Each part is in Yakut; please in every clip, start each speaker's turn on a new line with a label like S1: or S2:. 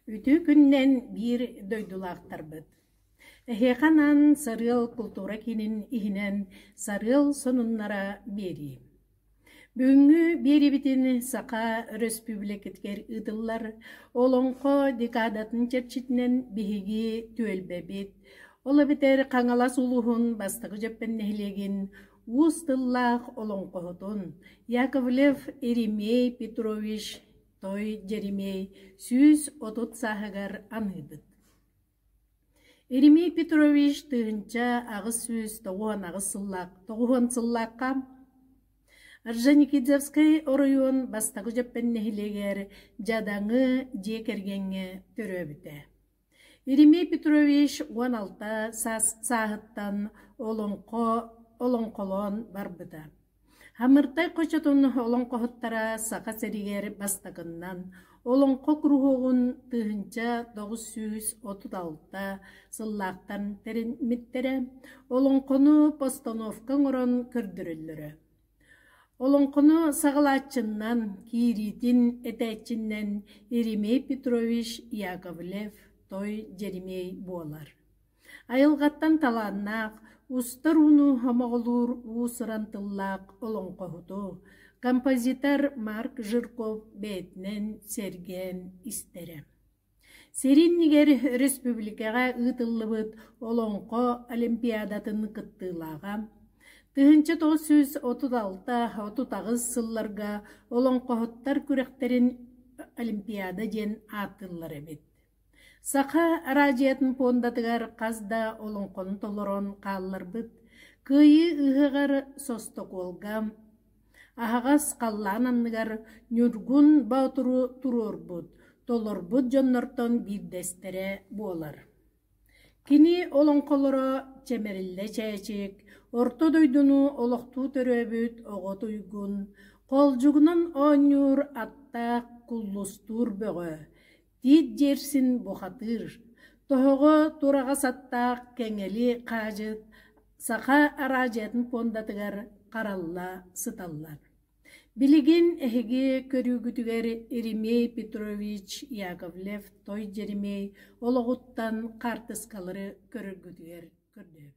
S1: Үтүө күннэн биир дойдулаахтарбыт! Эһиэхэ анаан Сарыал култуура киинин иһинэн сарыал сонуннара биэрии. Бүгүҥҥү биэрибитин Саха Өрөспүүбүлүкэтигэр ыытыллар Олоҥхо декадатын чэрчитинэн биһиги түөлбэбит, ол эбэтэр Хаҥалас улууһун бастакы дьөппөн нэһилиэгин уус тыллаах олоҥхоһутун Яковлев Еремей Петрович-Той Дьэримиэй сүүс отут сааһыгар аныыбыт. Иримий Петрович тыһыынча аҕыс сүүс тоҕуон аҕыс сыллаах тоҕуһуон сыллаахха Орджоникидзевскай оройуон бастакы Дьэппэн нэһилиэгэр Дьадаҥы дьиэ кэргэҥҥэ төрөөбүтэ. Иримий Петрович уон алта саас сааһыттан олоҥхо олоҥхолоон барбыта Хамыртай хочотун олоҥхоһуттара Саха сиригэр бастакыннан олоҥхо куруһуогун тыһыынча тоҕус сүүс отут алта сыллаахтан тэриммиттэрэ, олоҥхону постановка оҥорон көрдөрөллөрө. Олоҥхону саҕалааччыннан, киириитин этээччинэн Еремей Петрович Яковлев-Той Дьэримиэй буолар. Айылҕаттан талааннаах, устар ууну хомоҕолуур уус-уран тыллаах олоҥхоһуту композитор Марк Жирков бэйэтинэн сэргээн истэрэ. Сэрии иннигэр өрөспүүбүлүкэҕэ ыытыллыбыт Олоҥхо олимпиадатын кыттыылааҕа, тыһыынча тоҕус сүүс отут алта отут аҕыс сылларга олоҥхоһуттар күрэхтэрин олимпиада диэн ааттыыллар эбит. Саха араадьыйатын пуондатыгар хас да олоҥхону толорон хаалларбыт Кыайыы ыһыаҕар Состокуолга аһаҕас халлаан анныгар Ньургун Боотуру туруорбут, толорбут дьоннортон биирдэстэрэ буолар. Кини олоҥхолоро чэмэриллэ чээчик, Орто дойдуну олохтуу төрөөбүт оҕо туйгун, Холдьугунан оонньуур аттаах куллустуур бөҕө, Тиит дьиэрсин бухатыыр, тоһоҕо тураҕас аттаах кэҥэли хаадьыт саха араадьыйатын пуондатыгар харалла сыталлар. Билигин эһиги көрүүгүтүгэр Еремей Петрович Яковлев-Той Дьэримэй олоҕуттан хаартыскалары көрөргүтүгэр көрдөөбүт.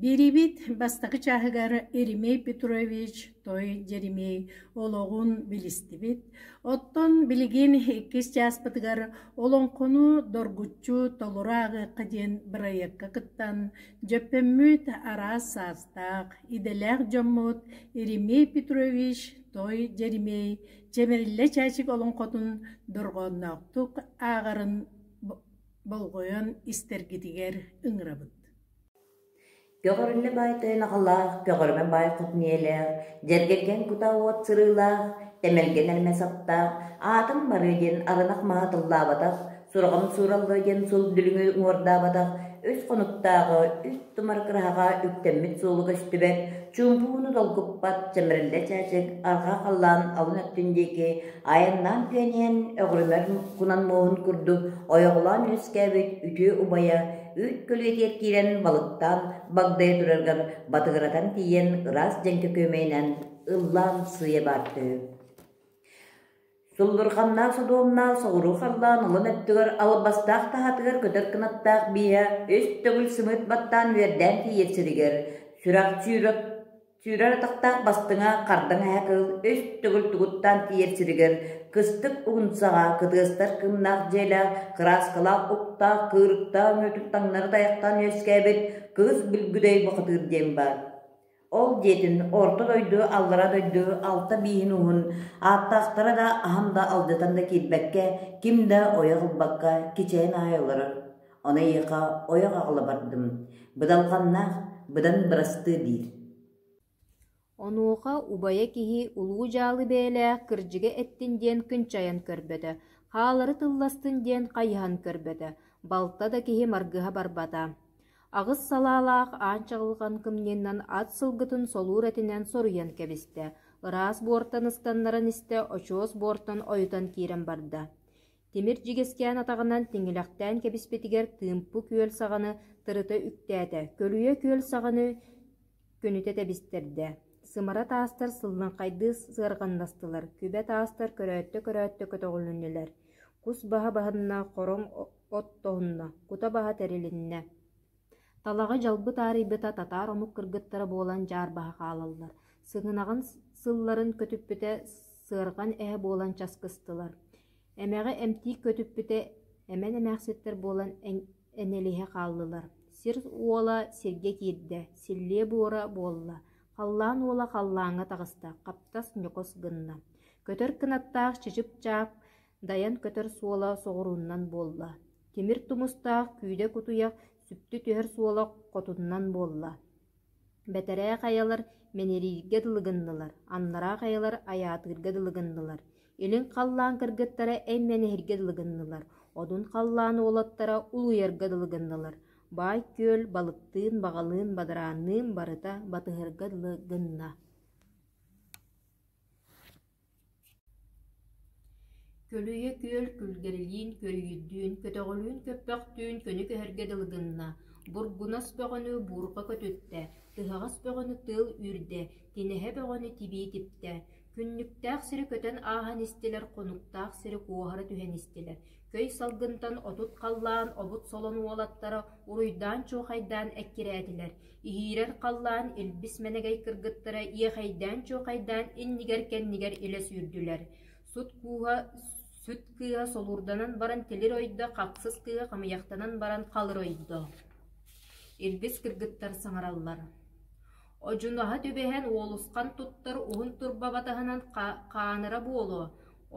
S1: Биэрибит бастакы чааһыгар Еремей Петрович Той Дьэримиэй олоҕун билистибит. Оттон билигин иккис чааспытыгар Олоҥхону доргуччу толору ааҕыахха диэн бырайыакка кыттан, дьөппөммүт араас саастаах, идэлээх дьоммут Еремей Петрович Той Дьэримиэй чэмэлиллэ чээчик олоҥхотун дорҕоонноохтук ааҕарын болҕойон истэргитигэр ыҥырабыт Көҕөрүнэ баай тойон аҕалаах, Көҕөрүмэн баай хотун ийэлээх, Дьэргэргэн кутаа уот сырыылаах, Тэмэлгэн эрмэ саптаах, Аатым барыы диэн арынах маһа тыллаабатах, Сураҕым суураллыа диэн суол дүлүҥү уҥуордаабатах, үс хонуктааҕы үс тумар кыраһаҕа үктэммит суолу көстүбэт, чуумпуһууну долгуппат чэмириллэ чээчик арҕаа халлаан алын өттүн диэки айаннаан түөн иһэн өҕүрүмэр кунан муоһун курдук ойоҕолоон үөскээбит үтүө убайа үүт көлүөтүгэр киирэн балыктаан багдайа тураргар батыгыратан тиийэн ыраас дьэҥкэ күөмэйинэн ыллаан сыыйа баартыһы Суллурҕаннаах содуомнаах соҕуруу халлаан улун өттүгэр албастаах таһатыгар көтөр кынаттаах бииһэ үс төгүл сымыыт баттаан үөрдээн тиийэр сиригэр сүрэх сүүрэр сүүрэр атахтаах бастыҥа хардаҥ эһэ кыыл үс төгүл тугуттаан тиийэр сиригэр кыстык угунсаҕа кытыастар кыымнаах дьиэлээх кырааскалаах уктаах кыырыктаах мүөтүк таҥнары тайахтаан үөскээбит кыыс билгүдэй бохатыыр диэн баар Ол диэтин орто дойду аллара дойду алта бииһин уһун ааттаахтара да аһан да алдьатан да киирбэккэ, ким да ойох ылбакка кичэйэн аайа олорор. Ону эйиэхэ ойох аҕала бардым, быдалҕаннаах, быдан бырастыы диир Онуоха убайа киһи улуу дьаалы бэйэлээх кырдьыга эттин диэн күнчайан көрбөтө, хаалары тылластын диэн хайыһан көрбөтө, балта да киһи маргыһа барбата. аҕыс салаалаах аан чаҕылҕан кымньыннан ат сылгытын солуур этинэн соруйан кэбистэ, ыраас буортан ыстаннаран истэ, очуос буортан ойутан киирэн барда. Тимир дьигэскээн атаҕынан тиҥилэхтээн кэбиспитигэр Тыымпу күөл саҕаны тырыта үктээтэ, көлүйэ күөл саҕаны күнүтэ тэбистэрдэ. Сымара таастар сыллыҥхайдыы сыарҕаннастылар, күбэ таастар көрөөттө-көрөөттө көтөҕүлүннүлэр. Кус баһа баһынна, хороҥ оттоһунна, кута баһа тэрилиннэ, талаҕы дьалбыт аарыйбыта татаар омук кыргыттара буолан дьаарбаһа хаалаллар, сыгынаҕын сылларын көтүппүтэ сыарҕан эһэ буолан часкыстылар, эмэҕи эмтиик көтүппүтэ эмэн эмээхситтэр буолан энэлиһэ хааллылар. Сир уола сиргэ киирдэ, силлиэ буора буолла, халлаан уола халлааҥҥа таҕыста, хаптас ньукус гынна. Көтөр кынаттаах чычып-чаап Дайан көтөр суола соҕурууннан буолла, тимир тумустаах күүдэ-кутуйах сүптэ түһэр суола хотуннан буолла. Бэтэрээ хайалар мэнирииргэ дылы гыннылар, аннараа хайалар айаатыырга дылы гыннылар, илин халлаан кыргыттара эмнэниһиргэ дылы гыннылар, одун халлаан уолаттара улуйарга дылы гыннылар, баай күөл балыктыын, баҕалыын, бадараанныын барыта батыһарга дылы гынна. Көлүйэ күөл күлгэрилиин күрүйүйдүүн, көтөҕүлүүн көппөхтүүн көнө көһөргө дылы гынна, бургунас бөҕөнү буурҕа көтүттэ, тыһаҕас бөҕөнү тыал үүрдэ, тинэһэ бөҕөнү тибии типтэ, күннүктээх сири көтөн ааһан истилэр, хонуктаах сири куоһара түһэн истилэр көй салгынтан отут халлаан обут солон уолаттара уруйдаан чуохайдаан эккирээтилэр, иһиирэр халлаан илбис мэнэгэй кыргыттара иэхэйдээн-чуохайдаан иннигэр-кэннигэр илэ сүүрдүлэр, сут кууһа сүт кыыһа солуурданан баран тилир ойдо, хахсыс кыыһа хамыйахтанан баран халыр ойдо. Илбис кыргыттар саҥараллар Одьунаһа түбэһэн уолусхан туттар уһун турбаба таһынан хаанара буолуо,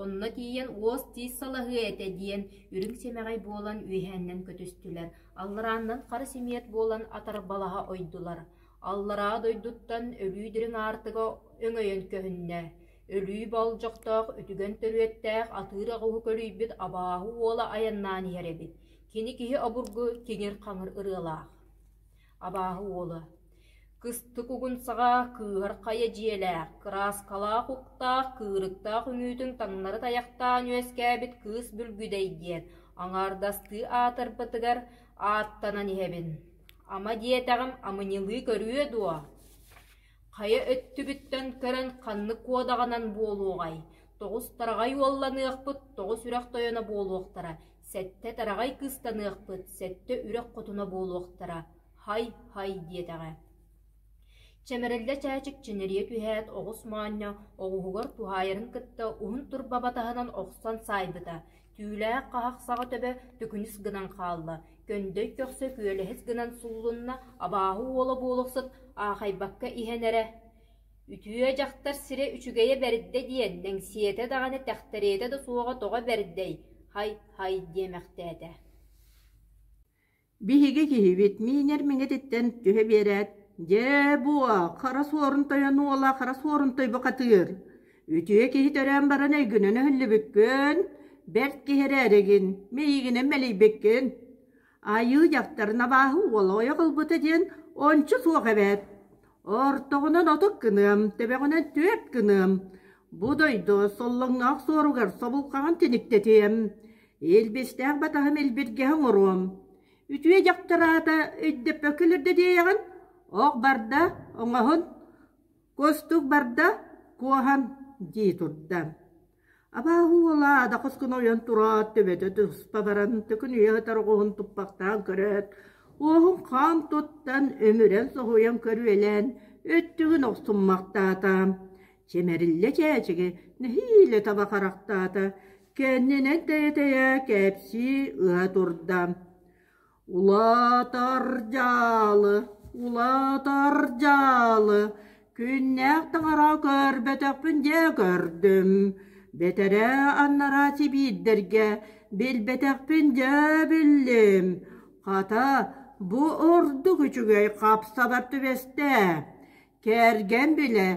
S1: онно тиийэн уос тиис салаһыа этэ диэн үрүҥ сэмэҕэй буолан үөһээннэн көтүстүлэр, алларааннан хара симиэт буолан атарбалаһа ойдулар. Аллараа дойдуттан өлүү дириҥ аартыга өҥөйөн көһүннэ, өлүү болдьохтоох үтүгэн төрүөттээх атыыр аҕуһу көлүйбүт абааһы уола айаннаан иһэр эбит, кини киһи обургу тиҥир-хаҥыр ырыалаах. абааһы уола кыстык угун саҕа кыыһар хайа дьиэлээх кырааскалаах уктаах кыырыктаах үҥүүтүн таҥнары тайахтаан үөскээбит кыыс бүлгүдэй диэн аҥаардастыы аатырбытыгар ааттанан иһэбин ама диэтэҕим амынньылыы көрүө дуо хайа өттүбүттэн көрөн ханнык куодаҕынан буолуоҕай тоҕус тараҕай уолланыахпыт тоҕус үрэх тойоно буолуохтара Сэттэ тараҕай кыыстаныахпыт, сэттэ үрэх хотуна буолуохтара, һай-һай диэтэҕэ Чэмэриллэ чээчикчинэрийэ түһээт, оҕус моонньо оҕуһугар туһаайарын кытта уһун турба батаһынан охсон саайбыта, түүлээх хаһах саҕа төбө төкүнүс гынан хаалла, көндөй көхсө күөлэһис гынан суллунна, абааһы уола буола охсут аахайбакка иһэн эрэ Үтүө дьахтар сирэ үчүгэйэ бэрдэ диэн мэҥсийэтэ даҕаны тэхтэриэтэ да суоҕа тоҕо бэрдэй һай-һай диэмэхтээтэ «Биһиги киһибит миинэр миҥэтиттэн түһэ биэрээт, дьээ буо, хара суорун тойон уола хара суорун тойбохатыыр, үтүө киһи төрөөн баран эйгинэн өһүллүбүккүн, бэрт киһи эрээригин, мэйиигинэн мэлийбиккин Айыы дьахтарын абааһы уола ойох ылбыта диэн ончу суох эбээт. Ортоҕунан отут гыныам, төбөҕүнэн түөрт гыныам. Бу дойду соллоҥноох суоругар собулхаҕын тиниктэтиэм. Илбистээх батаһым илбиргэһэ оҥоруом. Үтүө дьахтар аата өйдөппөккө илэрдэ диэҕин, ох барда, оҥоһун, костук барда, куоһан дии турда. Абааһы уола адахыс гына ойон тураат, төбөтө туспа баран, төкүн үйэ сытар оҕуһун туппахтаан көрөөт, уоһун хаан туттан, өмүрэн соһуйан көрүөлээн, өттүгүн охсуммахтаата. Чэмэриллэ чээчиги нэһиилэ таба харахтаата, кэннинэн тэйэ-тэйэ кээпсии ыһа турда. Улаатар дьаалы, улаатар дьаалы, күннээх таҥара көрбөтөхпүн дьэ көрдүм, бэтэрээ аннараа сибиирдэргэ билбэтэхпин дьэ биллим, хата бу ордук үчүгэй хапсабар түбэстэ, кэргэн билэ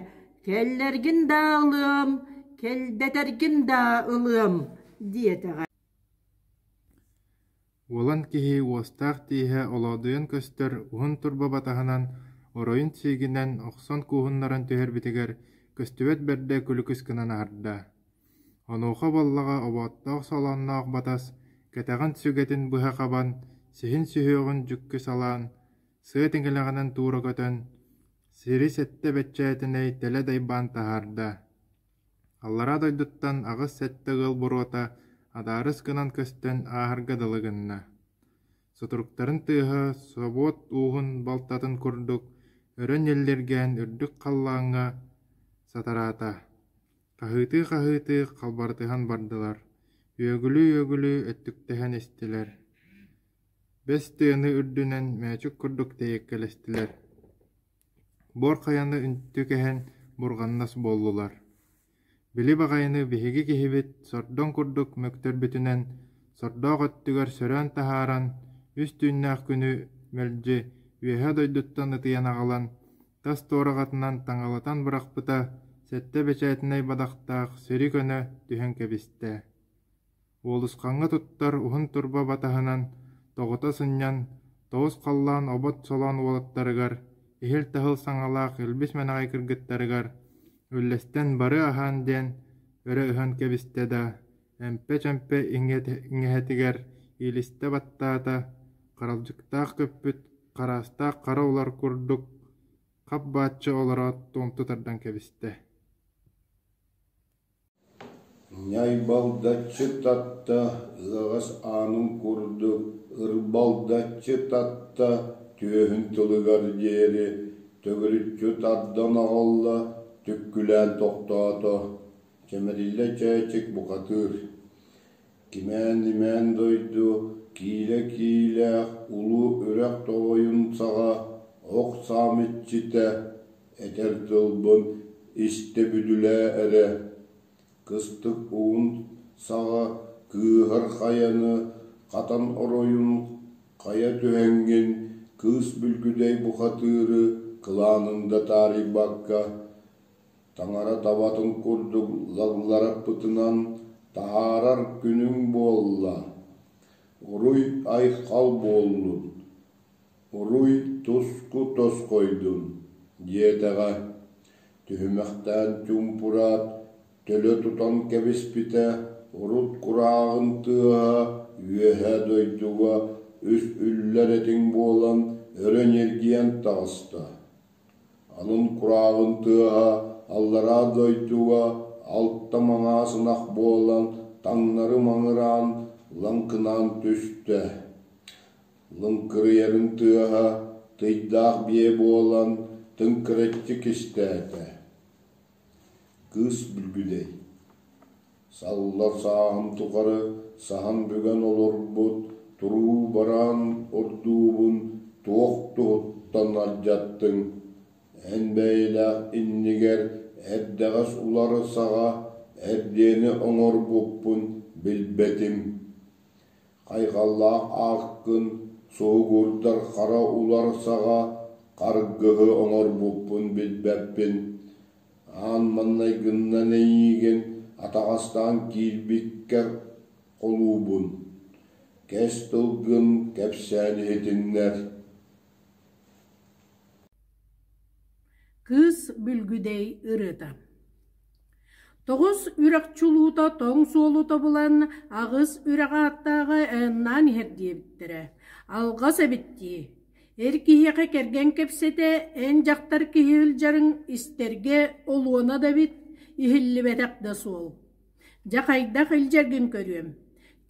S1: кэллэргин даа ылыам, кэлбэтэргин даа ылыам диэтэҕэ Уолан киһи уостаах тииһэ олоодуйан көстөр уһун турба батаһынан, оройун сиигинэн охсон кууһуннаран түһэрбитигэр көстүбэт бэрдэ күлүкүс гынан аһарда. Онуоха Баллаҕа оботтоох солоонноох батас, кэтэҕин сүгэтин быһа хабан, сиһин сүһүөҕүн дьүккү салаан, сыа тиҥилэҕинэн туура көтөн, сири сэттэ бэччээтинэй тэлэ дайбаан таһаарда. Аллараа дойдуттан аҕыс сэттэ ыал боруота адаарыс гынан көстөн ааһарга дылы гынна. Сутуруктарын тыаһа, собуот ууһун балтатын курдук өрө ньэллиргээн үрдүк халлааҥҥа сатараата. Хаһыытыы-хаһыытыы халбарытыһан бардылар, үөгүлүү-үөгүлүү өттүктэһэн истилэр. Бэс тыаны үрдүнэн мээчик курдук тэйэккэлэстилэр буор хайаны үнтү кэһэн бурҕаннас буоллулар били баҕайыны биһиги киһибит сордоҥ курдук мөктөрбүтүнэн сордоох өттүгэр сөрөөн таһааран үс түүннээх күнү мэлдьи үөһэ дойдуттан ытыйан аҕалан тас туораҕатынан таҥалатан бырахпыта сэттэ бэчээтинэй бадахтаах сири көнө түһэн кэбистэ Уолусхаҥҥа туттар уһун турба батаһынан тоҕута сынньан, тоҕус халлаан обот солоон уолаттарыгар, иһил-таһыл саҥалаах илбис мэнэҕэй кыргыттарыгар үллэстэн бары аһаан диэн өрө ыһан кэбистэ да, эмпэ-чэмпэ иҥэһэтигэр иилистэ баттаата, харалдьыктаах көппүт хараастаах хара улар курдук хап бааччы олороот туомту тардан кэбистэ Ньайбалдаччы татта ыаҕас аанын курдук ырбалдаччы татта түөһүн тылыгар диэри төгүрүччү тардан аҕалла, түккүлээн тохтоото, чэмэриллэ чээчик бухатыыр Кимээн-имээн дойду киилэ-киилээх улуу үрэх тоҕойун саҕа ох саам иччитэ этэр тылбын истэбүтүлээ эрэ, кыстык угун саҕа кыыһар хайаны хатан оройун хайа түһэҥҥин кыыс бүлгүдэй бухатыыры кылаанын да таарыйбакка Таҥара табатын курдук лаллараппытынан таһаарар күнүҥ буолла. Уруй айхал буоллун, уруй туску тосхойдун, диэтэҕэ. Түһүмэхтээн чуумпураат төлө тутан кэбиспитэ, урут курааҕын тыаһа үөһэ дойдуга үс үллэр этиҥ буолан өрө ньиргийэн таҕыста. Анын курааҕын тыаһа аллараа дойдуга алта маҥаас ынах буолан, таҥнары маҥыраан, лаҥкынаан түстэ. Лыҥкырыйарын тыаһа тыйдаах биэ буолан, тыҥкыраччы кистээтэ. Кыыс бүлгүдэй Саллар сааһым тухары саһан бүгэн олорбут туруу-бараан урдуубун туох туһуттан алдьаттыҥ, эн бэйэлээх иннигэр эрдэҕэс улары саҕа эрдиэни оҥорбуппун билбэтим. Хайҕаллаах ааккын суһугурдар хара улар саҕа харгыһы оҥорбуппун билбэппин, Аан маҥнай гыннан эйиигин атаҕастаан киирбиккэ холуубун, кэс тылгын кэпсээн иһитиннэр Кыыс Бүлгүдэй ырыата Тоҕус үрэх чулуута тоҥ суолута булан аҕыс үрэҕи ааттааҕы ааннаан иһэр диэбиттэрэ. Алҕас эбит дии Эр киһиэхэ кэргэн кэпсэтэ эн дьахтар киһи ылдьарыҥ истэргэ олуона да эбит, иһиллибэтэх да суол. Дьэ хайдах илдьэргин көрүөм.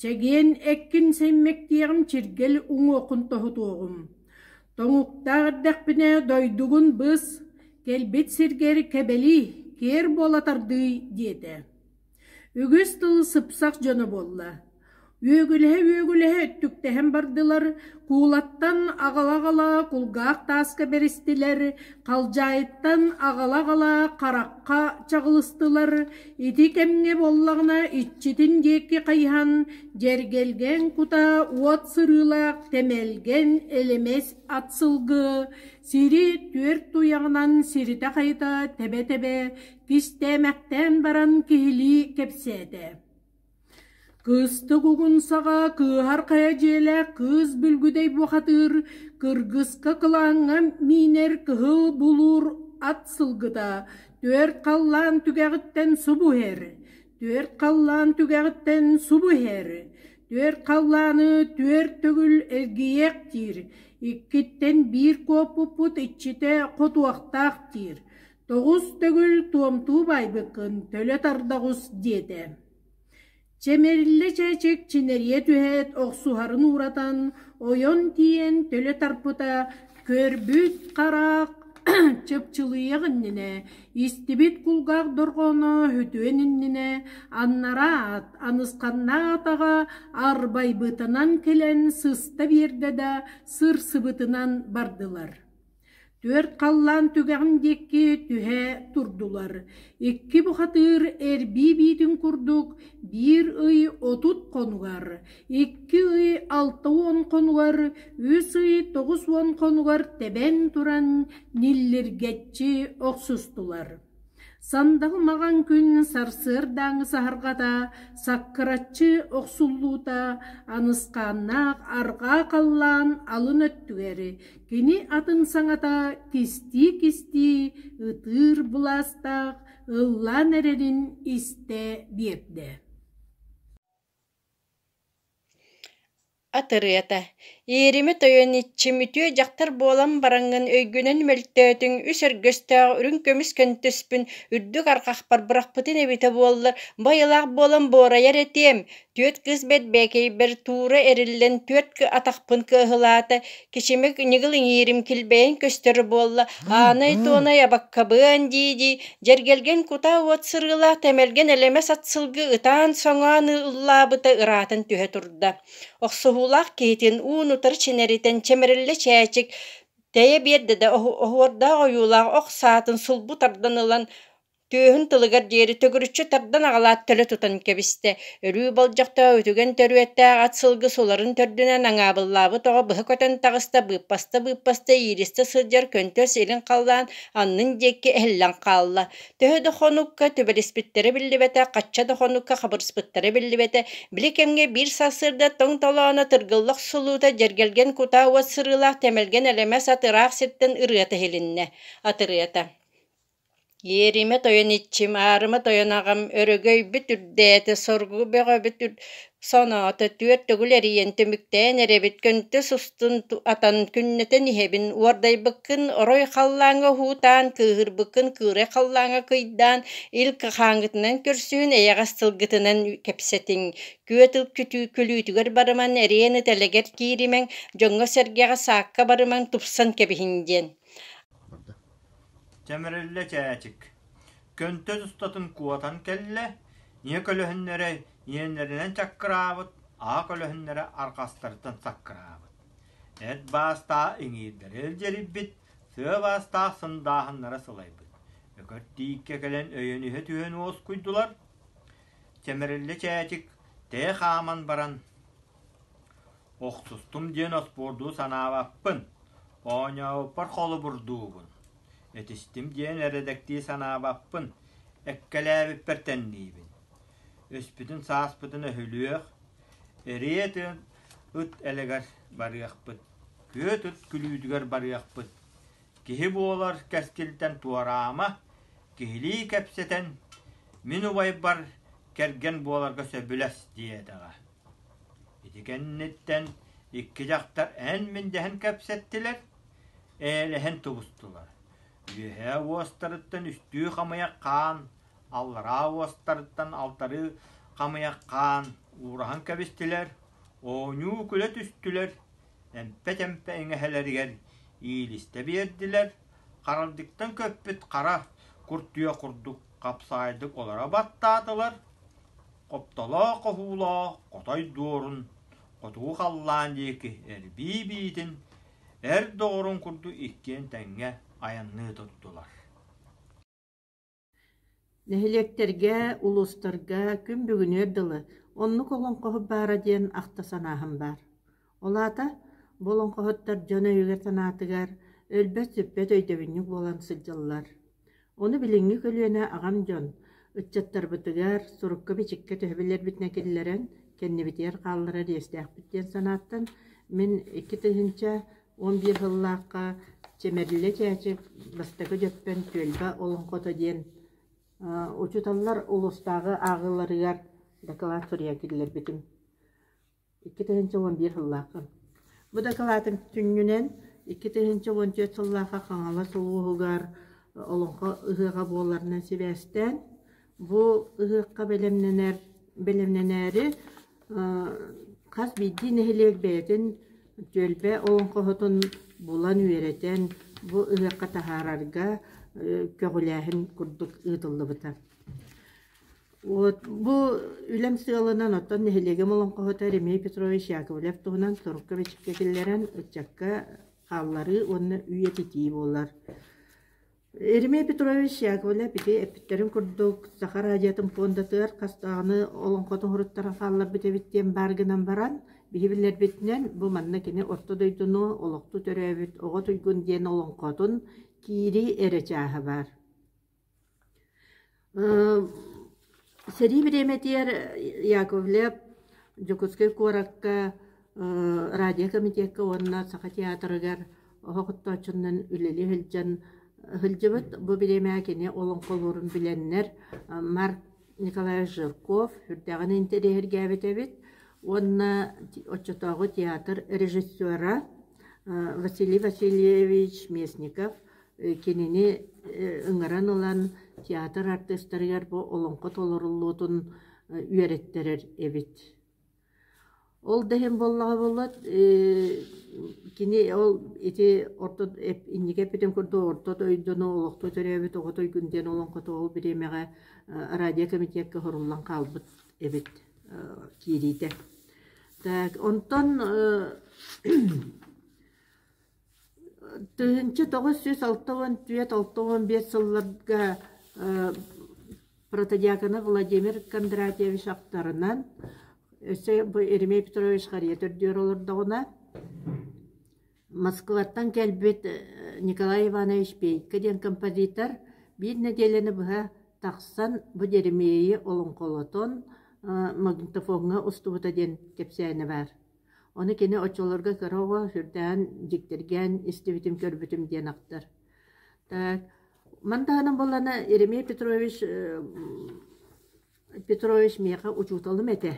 S1: Чэгиэн эккин сэммэктиэҕим чиргэл уҥуоххун тоһутуоҕум. Тоҥуктаах эрдэхпинэ дойдугун быс, кэлбит сиргэр кэбэлии, киэр буола тардыы диэтэ Үгүс тыл сыпсах дьоно буолла, үөгүлэһэ-үөгүлэһэ өттүктэһэн бардылар, куулаттан аҕала-аҕала кулгаах тааска бэристилэр, халдьаайыттан аҕала-аҕала харахха чаҕылыстылар, ити кэмҥэ буоллаҕына иччитин диэки хайыһан дьэргэлгэн кута уот сырыылаах тэмэлгэн элэмэс ат сылгы сири түөрт туйаҕынан сиритэ-хайыта тэбэ-тэбэ Кистээмэхтээн баран киһилии кэпсээтэ Кыстык угун саҕа кыыһар хайа дьиэлээх кыыс бүлгүдэй бухатыыр кыргыска кылааҥҥа миинэр кыһыл булуур ат сылгыта түөрт халлаан түгэҕиттэн субу иһэр түөрт халлаан түгэҕиттэн субу иһэр түөрт халлааны түөрт төгүл эргийиэх диир иккиттэн биир куоппуппут иччитэ хотуохтаах диир тоҕус төгүл туомтуу баайбыккын төлө тардаҕус диэтэ чэ мэриллэ чээчэк чинэрийэ түһээт охсуһарын ууратан ойон тиийэн төлө тарпыта көрбүт хараах чыпчылыйах иннинэ истибит кулгаах дорҕооно үтүөн иннинэ аннараат анысханнаат аҕа арбайбытынан кэлэн сыста биэрдэ да сырсыбытынан бардылар Түөрт халлаан түгэҕин диэки түһэ турдулар, икки бухатыыр эрбии биитин курдук биир ый отут хонугар, икки ый алта уон хонугар, үс ый тоҕус уон хонугар тэбэн туран ниллиргэччи охсустулар. Сандаҕы маҕан күн сарсыардааҥы саһарҕата, саккыраччы охсуллуута, анысхааннаах арҕаа халлаан алын өттүгэри, кини атын саҥата кистии-кистии ытыыр былаастаах ыллаан эрэрин истэ биэрдэ Атырыата, Иерими тойон иччим үтүө дьахтар буолан бараҥҥын өйгүнэн мөлтөөтүҥ үс өргөстөөх үрүҥ көмүс көнтөспүн үрдүк арҕахпар бырахпытын эбитэ буоллар байылаах буолан буорайар этиэм, түөрт кыыс бэрбээкэйбэр туура эриллэн түөрт атахпын кыаһылаата Кичимик ньыгыл иҥиирим килбэйэн көстөр буолла, аанай-туонай абаккабыан дии-дии, дьэргэлгэн кутаа уот сырыылаах тэмэлгэн элэмэс атсылгы ытаан-соҥоон ыллаабыта ыраатан түһэ турда. Охсуһуулаах киһитин уун-утары чинэритэн чэмэриллэ чээчик, тэйэ биэрдэ да оһуордаах ойуулаах ох саатын сулбу тардан ылан, Түөһүн тылыгар диэри төгүрүччү тардан аҕалаат төлө тутан кэбистэ, өрүү болдьохтоох үтүгэн төрүөттээх ат сылгы суларын төрдүнэн аҥаабыллаабыт оҕо быһа көтөн таҕыста, быыппаста-быыппаста ииристэ сылдьар көнтөс илин халлаан аннын диэки эһиллэн хаалла. Төһө да хонукка түбэриспиттэрэ биллибэтэ, хачча да хонукка хабырыспыттара биллибэтэ, били кэмҥэ биир сарсыарда тоҥ толооно тыргылла охсуллуута дьэргэлгэн кутаа уот сырыылаах тэмэлгэн элэмэс ат ыраах сиртэн ырыата иһилиннэ. Атырыйата Иэримэ тойон иччим, аарыма тойон аҕам, өрөгөйбүт үрдээтэ, соргу бөҕөбүт соноото, түөрт төгүл эрийэн түмүктээн эрэбит, көнтөс устун атан күннэтэн иһэбин, уордайбыккын орой халлааҥҥа уһуутаан, кыыһырбыккын кыырай халлааҥҥа кыйдаан, ил кахааҥҥытынан көрсүһүн, эйэҕэс тылгытынан кэпсэтиҥ. Күөт ыл күлүүтүгэр барымаҥ, эриэн итэлэгэр кииримэҥ, дьоҥҥо-сэргэҕэ саакка барымаҥ, тупсан кэбиһиҥ диэн. Чэмириллэ чээчик, көнтөн устатын куотан кэллэ, ийэ көлөһүннэрэ иэннэринэн чаккыраабыт, аа көлөһүннэрэ арҕастарыттан саккыраабыт, эт баастаа иҥиирдэрэ илдьирийбит, сыа баастаах сындааһыннара сылайбыт, Өкөр Тииккэ кэлэн өйөн иһэ түһэн уоскуйдулар. Чэмириллэ чээчик тээ хааман баран: Охсустум диэн оспуор дуу санаабаппын, оонньообуппар холобур дуубун, этистим диэн эрэдэктии санаабаппын, эккэлээбиппэр тэнниибин. Өспүтүн сааспытын өһүлүөх, эриэ тыын ыт элэгэр барыахпыт, күөт ыт күлүүдүгэр барыахпыт, киһи буолар кэскилтэн туораама, киһилии кэпсэтэн, мин убайбар кэргэн буоларга сөбүлэс диэтэҕэ. Ити кэнниттэн икки дьахтар эн-мин дэһэн кэпсэттилэр, эйэлэһэн тубустулар. Үөһээ уостарыттан үстүү хамыйах хаан, аллараа уостарыттан алтарыы хамыйах хаан уураһан кэбистилэр, оонньуу күлэ түстүлэр, эмпэ-тэмпэ иҥэһэлэригэр иилистэ биэрдилэр, харалдьыттан көппүт хара куртуйа курдук хапсаайдык олоро баттаатылар, хоптолоох-оһуулоох хотой дуорун хотуу халлаан диэки эрбии биитин эр доҕорун курдук иккиэн тэҥҥэ айанныы турдулар Нэһилиэктэргэ, улуустарга күн бүгүнүөр дылы оннук олоҥхоһут баара диэн ахта санааһын баар Ол аата, бу олоҥхоһуттар дьон өйүгэр-санаатыгар өлбөт-сүппэт өйдөбүнньүк буолан сылдьаллар. Ону билиҥҥи көлүөнэ аҕам дьон ыччаттарбытыгар сурукка-бичиккэ төһө билэрбитинэ киллэрэн, кэннибитигэр хаалларар иэстээхпит диэн санааттан мин икки тыһыынча уон биир сыллаахха Чэмэбиллэ Чээчик Бастакы Дьөппөн түөлбэ олоҥхото диэн учууталлар улуустааҕы ааҕыыларыгар доклад суруйа киллэрбитим. икки тыһыынча уон биир сыллааххын. Бу дакылаатын сүнньүнэн икки тыһыынча уон түөрт сыллаахха Хаҥалас улууһугар Олоҥхо ыһыаҕа буоларынан сибээстээн, бу ыһыахха бэлэмнэнэр бэлэмнэнээри хас биирдии нэһилиэк бэйэтин түөлбэ олоҥхоһутун булан, үөрэтэн, бу ыһыахха таһаарарга көҕүлээһин курдук ыытыллыбыта. Уот бу үлэм сыалынан оттон нэһилиэгим олоҥхоһута Ремей Петрович Яковлев туһунан сурукка-бичиккэ киллэрэн ыччакка хаалларыы уонна үйэтитии буолар. Еремей Петрович Яковлев ити эппиттэрин курдук Саха радиотын пуондатыгар хастааҕыны олоҥхотун уһуруттаран хаалларбыт эбит диэн баар гынан баран, биһи биллэрбитинэн бу манна кини орто дойдуну, олохту төрөөбүт оҕо туйгун диэн олоҥхотун киирии эрэ чааһа баар. Сэрии бириэмэтигэр Яковлев Дьокуускай куоракка радиокомитекка уонна Саха театрыгар оһох оттооччунан үлэлии сылдьан сылдьыбыт. Бу бириэмэҕэ кини олоҥхолуурун билэннэр Марк Николаевич Жирков сүрдэҕин интэриэһиргээбит эбит уонна оччотооҕу театр режиссера Василий Васильевич Местников Кинини ыҥыран ылан театр артыыстарыгар бу олоҥхо толоруллуутун үөрэттэрэр эбит. Ол да иһин буоллаҕа буоллар кини ол ити орто инники эппитин курдук орто дойдуну олохто төрөөбүт оҕото ойгун диэн олоҥхото ол бириэмэҕэ радиокэмитиэккэ хоруллан хаалбыт эбит киириитэ. Онтон Тыһыынча тоҕус сүүс алта уон түөрт алта уон биэс сылларга э протодиаконов Владимир Кондратьевич ахтарынан өссө бу Еремей Петрович харыйа төрдүгэр олордоҕуна Москваттан кэлбит Николай Иванович Пейко диэн композитор биир нэдиэлэни быһа тахсан бу Еремейи олоҥхолотон магнитофоҥҥа устубута диэн кэпсээнэ баар Ону кини оччолорго кыра оҕо сүрдээн дьиктиргээн истибитим, көрбүтүм диэн ахтар. Так, ман таһынан буоллана Еремей Петрович э, Петрович миэхэ учууталым этэ.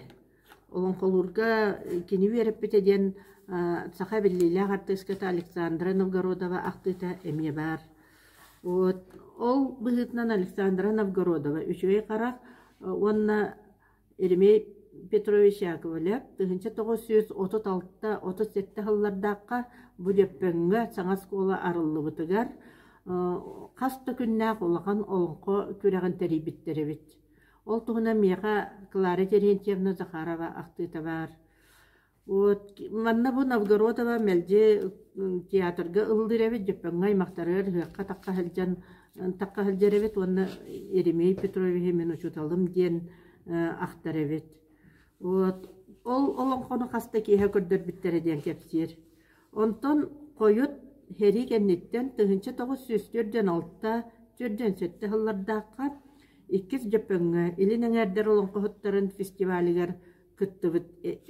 S1: Олоҥхолуурга кини үөрэппитэ диэн саха биллиилээх артыыската Александра Новгородова ахтыыта эмиэ баар. Вот ол быһыытынан Александра Новгородова үчүгэй харах уонна Еремей Петрович Яковлев тыһыынча тоҕус сүүс отут алта отут сэттэ сыллардаахха бу Дьөппөҥҥө саҥа оскуола арыллыбытыгар хас да күннээх улахан олоҥхо күрэҕин тэрийбиттэр эбит. Ол туһунан миэхэ Клара Терентьевна Захарова ахтыыта баар. Вот манна бу Новгород ыла мэлдьи театрга ыллыыр эбит дьөппөҥҥө аймахтарыгар ыһыахха-такха сылдьан такха сылдьар эбит уонна Еремей Петровиһы мин учууталым диэн ахтар эбит. Вот ол олоҥхону хас да киэһэ көрдөрбүттэрэ диэн кэпсиир. Онтон хойут сэрии кэнниттэн тыһыынча тоҕус сүүс төрдөн алта төрдөн сэттэ сыллардаахха иккис дьөппөҥҥө Илин эҥээрдэр олоҥхоһуттарын фестивалигар кыттыбыт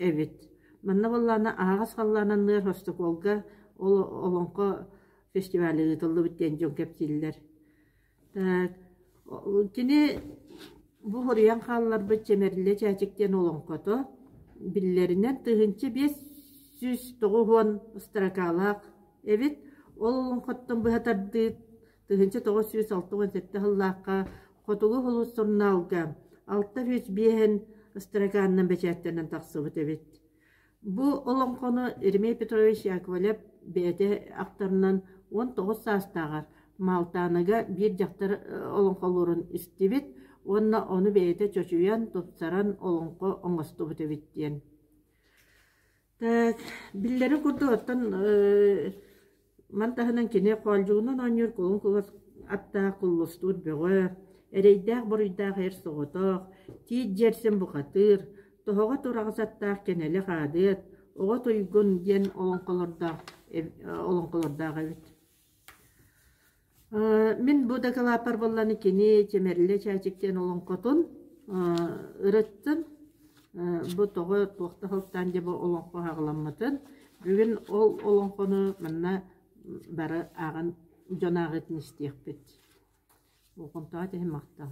S1: эбит. Манна буоллаана аһаҕас халлаананныар Хостокуолга Олоҥхо фестиваля ыытыллыбыт диэн дьон кэпсииллэр. Кини бу хоруйан хаалларбыт Чэмэриллэ Чээчик диэн олоҥхото биллэринэн тыһыынча биэс сүүс тоҕус уон ыстракаалаах эбит. Ол олоҥхоттон быһа тардыы тыһыынча тоҕус сүүс алта уон сэттэ сыллаахха Хотугу Хулус сурунаалга алта сүүс биэһин ыстаракаанынан бэчээттэнэн тахсыбыт эбит. Бу олоҥхону Еремей Петрович Яковлев бэйэтэ ахтарынан уон тоҕус саастааҕар Малтааныга биир дьахтар олоҥхолуурун истибит уонна ону бэйэтэ чочуйан, тупсаран олоҥхо оҥостубут эбит диэн. Э, биллэрин курдук, оттон э, ман таһынан кини хоолдьугунан оонньуур кулун кулас аттаах куллустуур бөҕө, эрэйдээх-буруйдаах эр соҕотох, тиит дьиэрсэн бухатыыр, тоһоҕо тураҕас аттаах кэнэлэх аадыат, оҕо туйгун диэн олоҥхолордоох, э, олоҥхолордоох эбит Мин бу дакылааппар буолланы кини Чэмэрилэ Чээчик диэн олоҥхотун ырыттым. Бу тоҕо туох да сылтаан дьэ бу олоҥхо аһаҕаламмытын бүгүн ол олоҥхону манна бары ааҕан дьон ааҕыытын истиэхпит. Болҕомтоҕо ити иһин махтал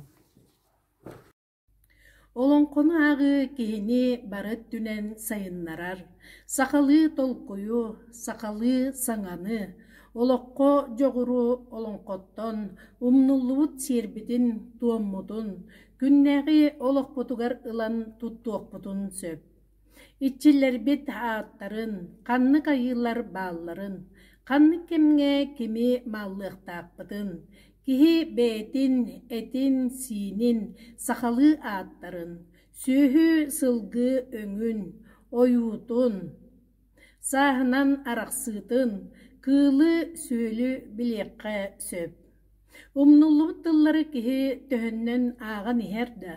S1: Олоҥхону ааҕыы киһини бары өттүнэн сайыннарар, сахалыы толкуйу, сахалыы саҥаны, олоххо дьоҕуру олоҥхоттон, умнуллубут сиэрбитин-туоммутун, күннээҕи олохпутугар ылан туттуохпутун сөп. Иччилэрбит ааттарын, ханнык айыылар баалларын, ханнык кэмҥэ кими мааллыахтаахпытын, киһи бэйэтин этин-сиинин, сахалыы ааттарын, сүөһү-сылгы өҥүн, ойуутун, Сааһынан арахсыытын, кыылы-сүөлү билиэххэ сөп. Умнуллубут тыллары киһи төһөннөн ааҕан иһэр да,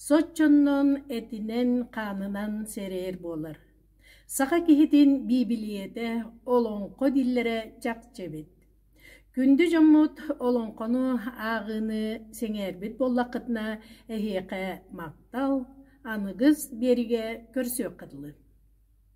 S1: соччонон этинэн-хаанынан сэрэйэр буолар. Саха киһитин биибилийэтэ олоҥхо дииллэрэ чахчы эбит. Күндү дьоммут олоҥхону ааҕыыны сэҥээрбит буоллаххытына, эһиэхэ махтал, аныгыс биэригэ көрсүөххэ дылы.